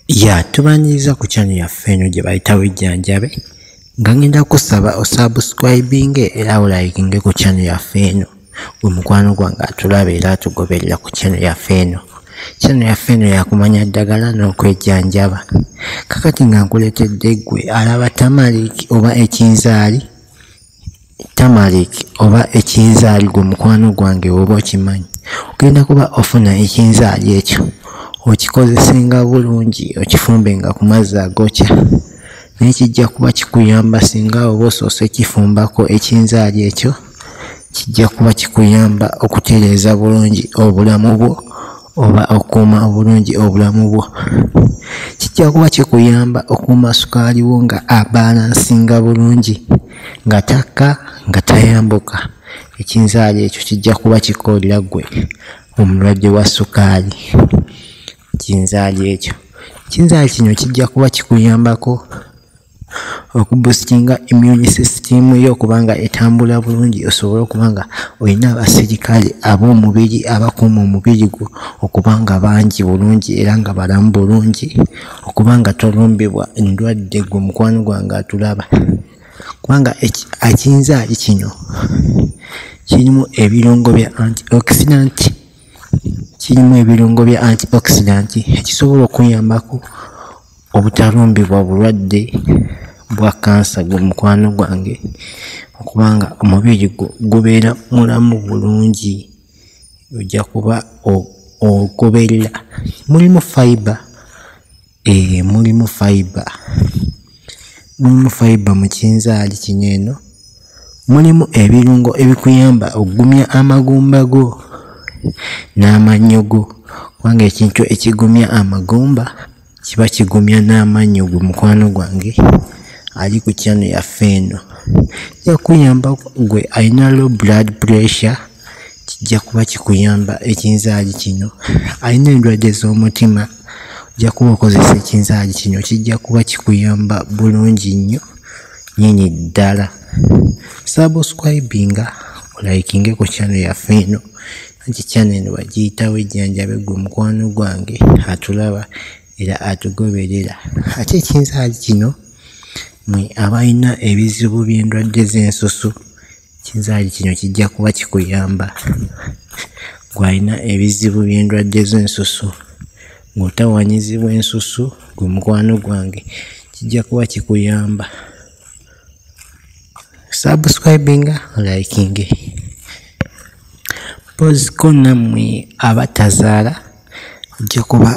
ya tubanyiza ku kyano yaffe eno gye bayita bujjanjabe nga ngenda kusaba osubscribinge era olayikinge ku kyano yaffe eno gwe mukwano gwange atulaba era atugoberera ku kyano yaffe eno kyano yaffe eno yakumanya ddagala n'okwejjanjaba kakati nga nkuleetedde ggwe alaba tamaliki oba ekinzaali tamalik oba ekinzaali gwe mukwano gwange oba okimanyi ogenda kuba ofuna ekinzaali ekyo okikozesenga bulungi okifumbenga ku mazzi agokya naye kijja kuba kikuyamba singa oba osoosa ekifumbako ekinzaali ekyo kijja kuba kikuyamba okutereeza bulungi obulamu bwo oba okukuuma obulungi obulamu bwo kijja kuba kikuyamba okuuma sukaali wo nga abalansinga bulungi nga takka nga tayambuka ekinzaali ekyo kijja kuba kikoolera gwe omulwadde wa sukaali kinzaali ekyo kinzaali kino kijja kuba kikuyambako okubusitinga immune system yo okubanga etambula bulungi osobole okubanga olina abasirikale ab'omubiri abakuuma omubiri gwo okubanga bangi bulungi era nga balamu bulungi okubanga tolumbibwa endwadde gwe mukwano gwange atulaba kubanga akiyinza ali kino kirimu ebirungo bya antioxidant kirimu ebirungo bya antioxidant ekisobola okuyambako obutalumbibwa bulwadde bwa kansa gwe mukwano gwange okubanga omubiri gwo gubeera mulamu bulungi ojja kuba ogoberera mulimu fiber ee eh, mulimu fiber mulimu fiber mu kinzaali kino eno mulimu ebirungo ebikuyamba okugumya amagumba go n'amannyo go kubanga ekintu ekigumya amagumba kiba kigumya n'amannyo gwe mukwano gwange ali ku kyano yaffe eno kijja kuyamba gwe alina low blood pressure kijja kuba kikuyamba ekinzaali kino alina endwadde z'omutima ojja kuba okozesa ekinzaali kino kijja kuba kikuyamba bulungi nnyo nyini ddala subscribinga olayikinge ku kyano yaffe eno anti kyana eno bagiyitawo ejjanjabe gwe mukwano gwange atulaba era atugoberera ate ekinzaali kino mwe abalina ebizibu by'endwadde z'ensusu kinzaali kino kijja kuba kikuyamba gwalina ebizibu by'endwadde z'ensusu ng'otawanyizibwa ensusu gwe mukwano gwange kijja kuba kikuyamba subscribinga likinge Mpozzi ko nammwe abatazaala ojja kuba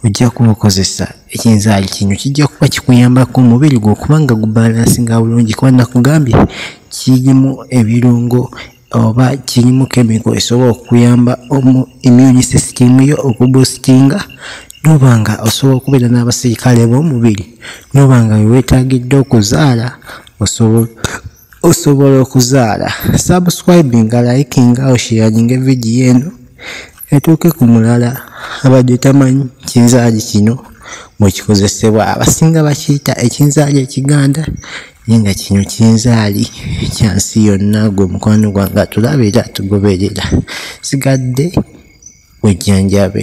ojja kuba okozesa ekinzaali kino kijja kuba kikuyambako omubiri gwo kubanga gubalansinga bulungi kuba nakugambye kirimu ebirungo oba kirimu kemiko esobola okuyamba omu immune system yo okubusitinga noba nga osobola okubeera n'abasirikale b'omubiri noba nga weweetagidde okuzaala osobola osobola okuzaala subscribinga likinga oshiyaninga evidiyo eno etuuke ku mulala abadde tamanyi kinzaali kino mwekikozesebwa abasinga bakiyita ekinzaali ekiganda naye nga kino kinzaali kyansi yonna gwe mukwano gwange atulaba era atugoberera sigadde wejjanjabe